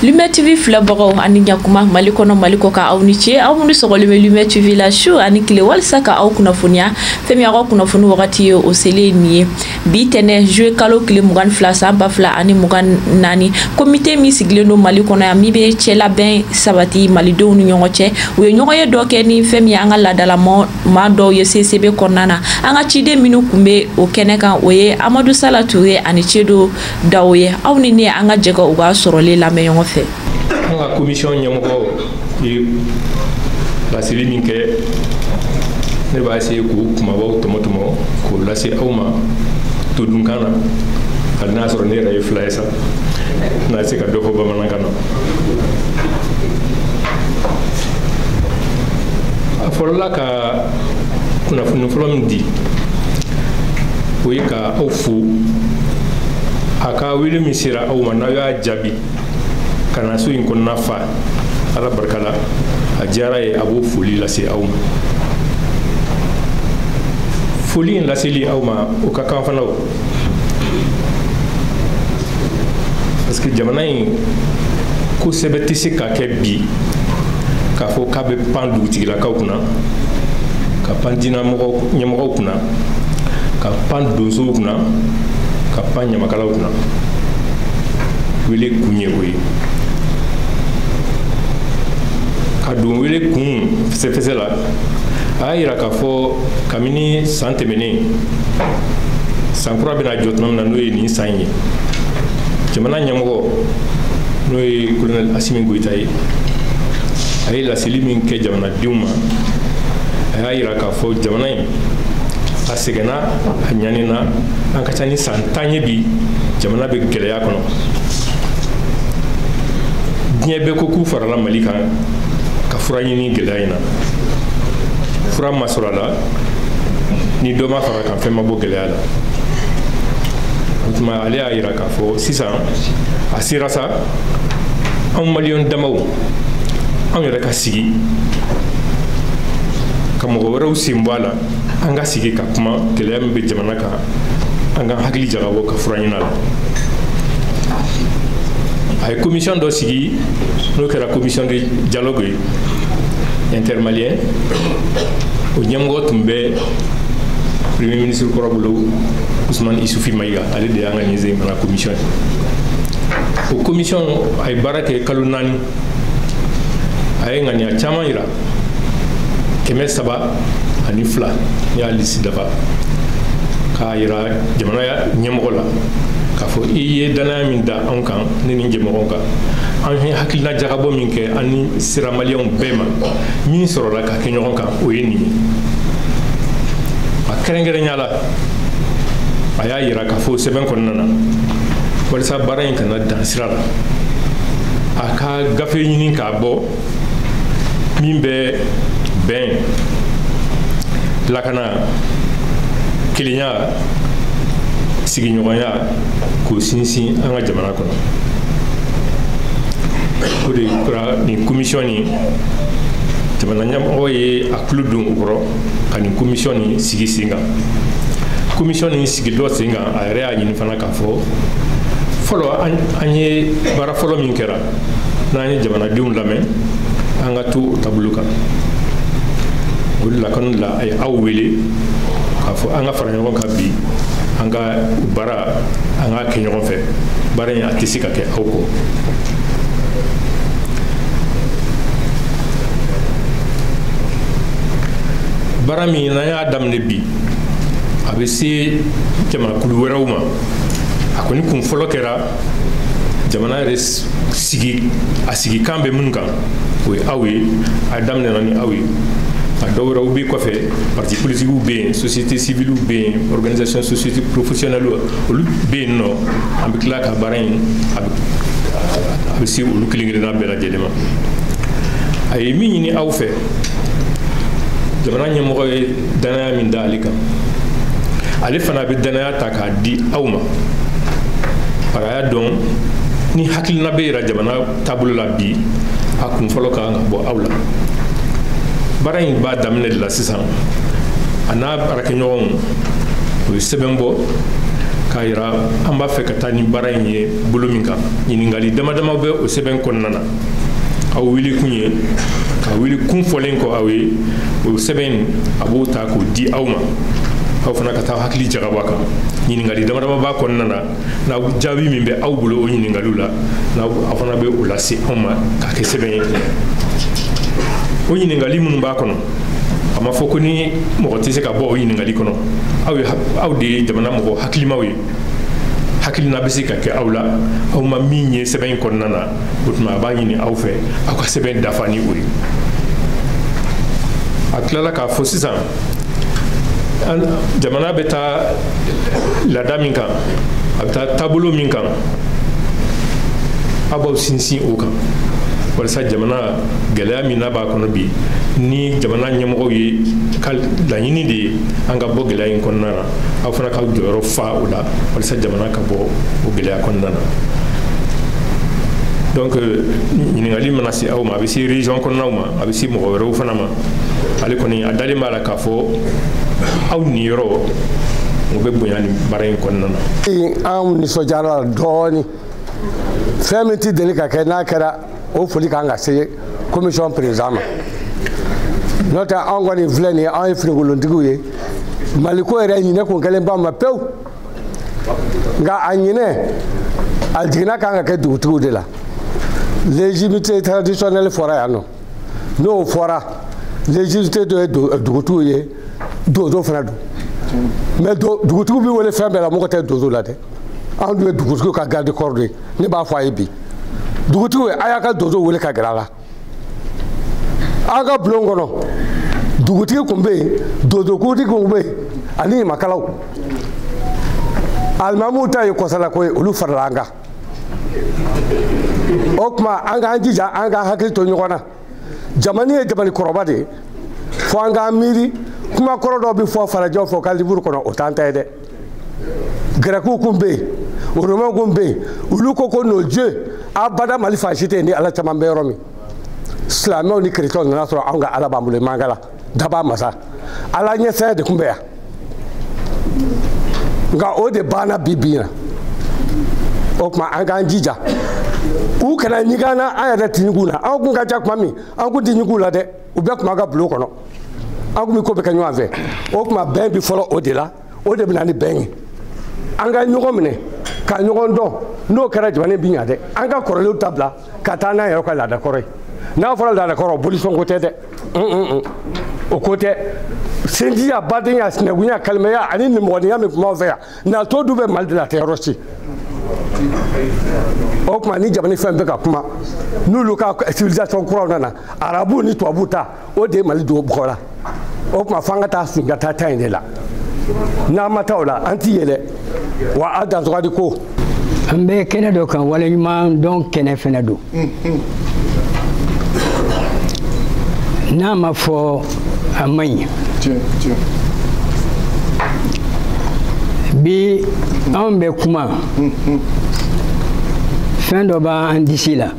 Lumière TV filɛbagaw ani ɲakuma Mali kɔnɔ Mali kɔkan aw ni ce aw minnu sɔgɔlen bɛ Lumière TV la su ani tile walisa ka aw kunnafoniya fɛn min aw kunnafoni wagati ye o selen ye nin ye bi tɛnɛ juillet kalo tile mugan ni fila san ba fila ani mugan ni naani komite min sigilen don Mali kɔnɔ yan min bɛ cɛla bɛn sabati malidenw ni ɲɔgɔn cɛ u ye ɲɔgɔnye dɔ kɛ ni fɛn min ye an ka laadala maa dɔw ye CICB kɔnɔna na an ka ciden minnu tun bɛ o kɛnɛ kan o ye Amadu Sala Ture ani Seydu Dawo ye aw ni ne an ka jɛ k'u ka sɔrɔlen lamɛn ɲɔgɔn fɛ an ka komisiyɔn ɲɛmɔgɔ ye laseli min kɛ ne b'a essayer k'o kumabaw tɔmɔtɔmɔ k'o lase aw ma todunkan na hali n'a sɔrɔ ne yɛrɛ ye fila ye sa n na se ka dɔ fɔ bamanankan na a fɔlɔla ka ka kunnafoni fɔlɔ min di o ye ka aw fo a ka wele min sera aw ma n'aw y'a jaabi ka na so in kɔnɔna fa ala barika la a diyara a ye a b'o foli lase aw ma foli in laseli aw ma o ka kan fana o parce que jamana in ko sɛbɛ tɛ se ka kɛ bi k'a fɔ k'a bɛ pan dugutigilakaw kunna ka pan diina ɲɛmɔgɔw kunna ka pan donsow kunna ka pan ɲamakalaw kunna wele kun ye o ye ka don wele kun fɛsɛfɛsɛ la a y'a yira k'a fɔ kabini san tɛmɛnen san kura bɛna jɔ tuma min na n'o ye nin san ye jamana ɲɛmɔgɔ n'o ye kolonɛli asimi goyita ye a ye laseli min kɛ jamanadenw ma a y'a yira k'a fɔ jamana in a sɛgɛnna a ɲanina a ka ca ni san tan ye bi jamana bɛ gɛlɛya kɔnɔ diɲɛ bɛɛ ko k'u farala mali kan ka fura ɲini gɛlɛya in na fura ma sɔrɔ a la ni dɔ ma fara a kan fɛn ma bɔ gɛlɛya la o tuma ale y'a yira k'a fɔ sisan a sera sa anw maliyɛn damaw anw yɛrɛ ka sigi ka mɔgɔ wɛrɛw sen bɔ a la an ka sigi ka kuma gɛlɛya min bɛ jamana kan an ka hakili jagabɔ ka fura ɲini a la a ye komisiyɔn dɔ sigi n'o kɛra komisiyɔn de dialogue ye intermalien o ɲɛmɔgɔ tun bɛ premier ministre kɔrɔ bolo ousmane isufi mayiga ale de y'an ka nin sen fana commission ye o commission a ye baara kɛ kalo naani a ye ŋaniya caman yira kɛmɛ saba ani fila a y'a lisi dafa k'a yira jamana ɲɛmɔgɔ la k'a fɔ i ye dannaya min da anw kan ne ni jɛmɔgɔw kan an ye hakilina jagabɔ min kɛ an ni siramaliyɛnw bɛɛ ma min sɔrɔla ka kɛ ɲɔgɔn kan o ye nin ye a kɛrɛnkɛrɛnya la a y'a yira k'a fɔ sɛbɛn kɔnɔna na walisa baara in kana dan sira la a ka gafe ɲini k'a bɔ min bɛ bɛn lakana kelenya sigiɲɔgɔnya k'o sinsin an ka jamana kɔnɔ o de kɛra nin komisiyɔn nin jamana ɲɛmɔgɔ ye a tulo don o kɔrɔ ka nin komisiyɔn nin sigi sen kan komisiyɔn nin sigitɔ sen kan a yɛrɛ y'a ɲini fana k'a fɔ fɔlɔ an ye baara fɔlɔ min kɛra n'an ye jamanadenw lamɛn an ka to o taabolo kan o de la kama de la a ye aw wele k'a fɔ an ka fara ɲɔgɔn kan bi an ka baara an k'a kɛ ɲɔgɔn fɛ baara in a tɛ se ka kɛ aw kɔ baara min n'an y'a daminɛ bi a bɛ se jamakulu wɛrɛw ma a kɔni kun fɔlɔ kɛra jamana yɛrɛ sigi a sigikan bɛ minnu kan o ye aw ye a daminɛna ni aw ye a dɔ wɛrɛw bɛ kɔfɛ parti politikiw bɛ yen société civiliw bɛ yen organisation société professionnelle olu bɛ yen nɔ an bɛ tila ka baara in a bɛ a bɛ se olu kelen kelenna bɛɛ lajɛlen ma a ye min ɲini aw fɛ jamana ɲɛmɔgɔ ye danaya min da ale kan ale fana bɛ danaya ta k'a di aw ma bari a y'a dɔn ni hakilina bɛ yira jamana taabolo la bi a kun fɔlɔ ka kan ka bɔ aw la baara in b'a daminɛ de la sisan a n'a baarakɛɲɔgɔnw u ye sɛbɛn bɔ k'a yira an b'a fɛ ka taa ni baara in ye bolo min kan ɲininkali dama dama bɛ o sɛbɛn kɔnɔna na aw wele kun ye ka wele kun fɔlen kɔ aw ye o sɛbɛn a b'o ta k'o di aw ma aw fana ka taa hakili jagabɔ a kan ɲininkali damadama b'a kɔnɔna na n'aw jaabi min bɛ aw bolo o ɲininkaliw la n'aw aw fana bɛ o lase anw ma k'a kɛ sɛbɛn ye o ɲininkali minnu b'a kɔnɔ a ma fɔ ko ni mɔgɔ tɛ se ka bɔ o ɲininkali kɔnɔ aw ye aw de ye jamana mɔgɔ hakilimaw ye hakilina bɛ se ka kɛ aw la aw ma min ye sɛbɛn in kɔnɔna na o tuma a b'a ɲini aw fɛ aw ka sɛbɛn dafa ni o ye a tilala k'a fɔ sisan jamana bɛ taa laada min kan a bɛ taa taabolo min kan aw b'aw sinsin o kan walasa jamana gɛlɛya min n'a b'a kɔnɔ bi ni jamana ɲɛmɔgɔw ye ka laɲini de ye an ka bɔ gɛlɛya in kɔnɔna na aw fana ka jɔyɔrɔ fa o la walasa jamana ka bɔ o gɛlɛya kɔnɔna na donc euh, ɲininkali mana se aw ma a bɛ se région kɔnɔnaw ma a bɛ se mɔgɔ wɛrɛw fana ma ale kɔni a dalen b'a la k'a fɔ aw niyɔrɔ o bɛ bonya nin baara in kɔnɔna na anw nisɔndiyara dɔɔnin fɛn min tɛ deli ka kɛ n'a kɛra o foli kan ka se commission président ma n'o tɛ anw kɔni filɛ nin ye anw ye finikolontigiw ye mali ko yɛrɛ ɲinɛ kun kɛlen ba ma pewu nka a ɲinɛ a jiginna kan ka kɛ dugutigiw de la légitimité traditionnelle fɔra yan nɔ n'o fɔra légitimité dɔ ye dugutigiw ye donso fana don mais dugutigiw bɛ wele fɛn bɛɛ la mɔgɔ tɛ donso la dɛ anw dun ye dugutigi ka garde corps de ye ne b'a fɔ a ye bi dugutigiw a y'a ka donso wele ka gɛrɛ a la an ka bulon kɔnɔ dugutigi kun bɛ yen donsokuntigi kun bɛ yen ani ɲamakalaw alimamuw ta ye kɔsalako ye olu farala an kan o tuma an k'an jija an ka hakili to ɲɔgɔn na jamani ye jamani kɔrɔba de ye fo an k'an miiri kuma kɔrɔ dɔ bɛ fɔ farajɛw fɛ u ka liburu kɔnɔ o t'an ta ye dɛ gɛrɛkiw kun bɛ yen oromɛw kun bɛ yen olu ko ko nos dieux abada mali fan si tɛ yen ni ala caman bɛ yɔrɔ min silamɛw ni kerecɛnw nana sɔrɔ anw ka ala b'an bolo mangala dabaa masa ala ɲɛsiran de kun bɛ yan nka o de banna bi bi na o tuma an k'an jija u kana ɲigin an na an yɛrɛ tɛ ɲigin u la an kun ka ca tuma min an kun tɛ ɲigin u la dɛ u bɛɛ tun b'an ka bulon kɔnɔ an kun bɛ ko bɛɛ kɛ ɲɔgɔn fɛ o tuma bɛn bi fɔlɔ o de la o de bɛ na ni bɛn ye an ka ɲɔgɔn minɛ ka ɲɔgɔn dɔn n'o kɛra jamana in bɛ ɲa dɛ an ka kɔrɔlenw ta bila ka taa n'an yɛrɛ ka laadakɔrɔ ye n'a fɔra laadakɔrɔ bolisɔnko tɛ dɛ o ko tɛ sinjiya badenya sinankunya kalimɛya ani nimɔgɔninya min kun b'anw fɛ yan nato dun bɛ mali de la a tɛ yɔrɔ si o tuma ni jamana fɛn bɛ ka kuma n'olu ka civilisation kuraw nana arabu ni tubabu ta o de ye mali don bɔgɔ la o tuma f'an ka taa segin ka taa ta in de la n'an ma taa o la an tɛ yɛlɛ wa a dansɔgɔdi ko an bɛ kɛnɛ dɔ kan waleɲuman dɔn kɛnɛ fɛnɛ don n'a ma fɔ a man ɲi bi anw bɛ kuma fɛn dɔ b'an disi la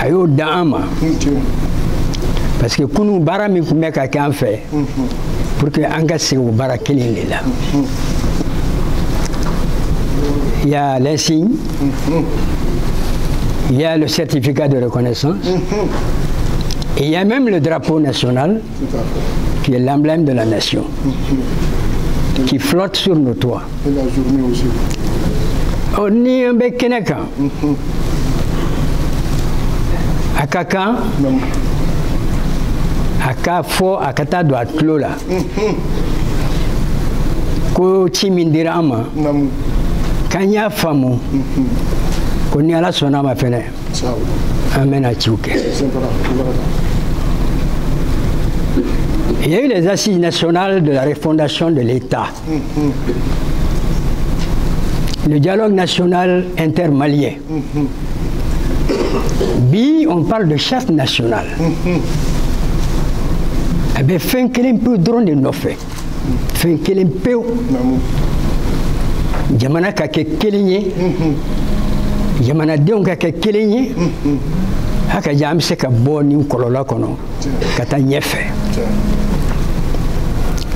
a y'o d'an ma parce que kunu baara min tun bɛ ka kɛ an fɛ pour que an ka segin o baara kelen de la il y a l'insigne il y a le certificat de reconnaissance et il y a même le drapeau national qui est l'emblème de la nation qui flotte sur nos toits. Et la journée aussi. Oh, ni an bɛ kɛnɛ kan. a ka kan a k'a fɔ a ka taa don a tulo la ko ci min dira an ma k'an y'a faamu ko ni ala sɔnna a ma fɛnɛ an bɛna ciw kɛ Il y a eu les assises nationales de la refondation de l'État. le dialogue national intermalien. Bi, on parle de charte nationale. A bɛ fɛn kelen pew dɔrɔn de nɔfɛ fɛn kelen pew jamana ka kɛ kelen ye jamanadenw ka kɛ kelen ye hakaja an bɛ se ka bɔ nin kɔlɔlɔ kɔnɔ ka taa ɲɛfɛ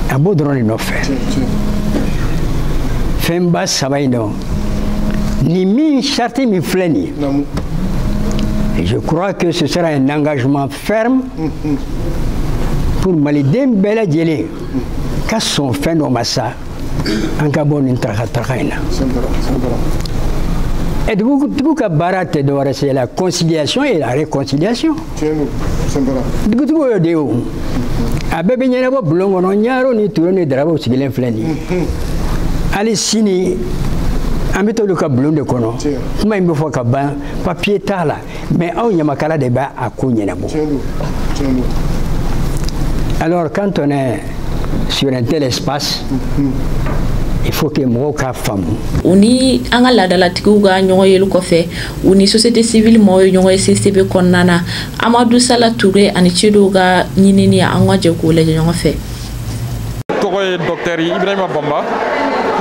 a b'o dɔrɔn de nɔfɛ fɛnba saba in don ni min charte min filɛ nin ye je crois que ce sera un engagement ferme pour maliden bɛɛ lajɛlen ka sɔn fɛn dɔ ma sa an ka bɔ nin tarakataraka in na et dugu ka baara tɛ dɔwɛrɛ c'est la conciliation et la réconciliation dugutigi y'o de ye o a bɛɛ bɛ ɲɛnabɔ bulon kɔnɔ ɲarew ni turew ni darawew sigilen filɛ nin ye hali sini an bɛ t'olu ka bulon de kɔnɔ kuma in bɛ fɔ ka ban papiye t'a la mais anw ɲamakala de b'a a ko ɲɛnabɔ alors quand on est sur un tel espace il faut que mɔgɔw k'a faamu u ni an ka laadalatigiw ka ɲɔgɔn yeli kɔfɛ u ni société civile mɔgɔw ye ɲɔgɔn ye CICB kɔnɔna na Amadu Sala Ture ani Sedu ka ɲinini an ka jɛ k'o lajɛ ɲɔgɔn fɛ. tɔgɔ ye docteur Ibrahima Bamba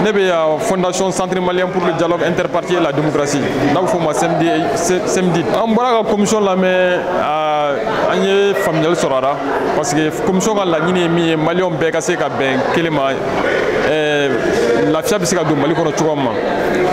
ne bɛ yan fondation centre malien pour le dialogue interparti et la démocratie n'a bɛ fɔ o ma CMDI an bɔra ka commission lamɛn an ye faamuyali sɔrɔ a la parce que commission ka laɲini ye min ye maliyɛnw bɛɛ ka se ka bɛn kelen ma eh, lafiya bɛ se ka don mali kɔnɔ cogoya min ma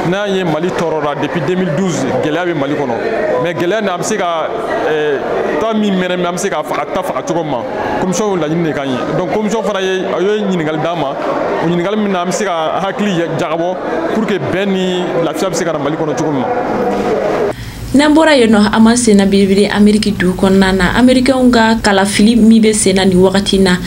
n'an ye mali tɔɔrɔra depuis 2012 gɛlɛya bɛ mali kɔnɔ mais gɛlɛya nin an bɛ se ka eh, ta min mɛnɛnen an bɛ se ka faga ta faga cogo min ma commission y'o laɲini de kan ye donc commission fana ye a ye ɲininkali d'an ma o ɲininkali min na an bɛ se ka hakili jagabɔ pour que bɛn ni lafiya bɛ se ka na mali kɔnɔ cogo min ma n'an bɔra yen nɔ an ma senna belebele ameriki dugu kɔnɔna na amerikɛnw ka kalafili min bɛ senna nin wagati na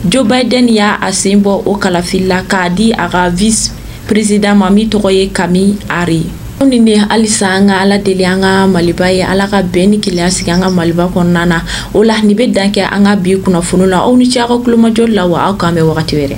joe biden y'a sen bɔ o kalafili la k'a di a ka vice président ma min tɔgɔ ye kamala harris anw ni ne halisa an ka ala deli an ka maliba ye ala ka bɛn ni kelenya sigi an ka maliba kɔnɔna na o la nin bɛ dan kɛ an ka bi kunnafoni la aw ni ce aw ka kulomajɔ la wa aw k'an bɛn wagati wɛrɛ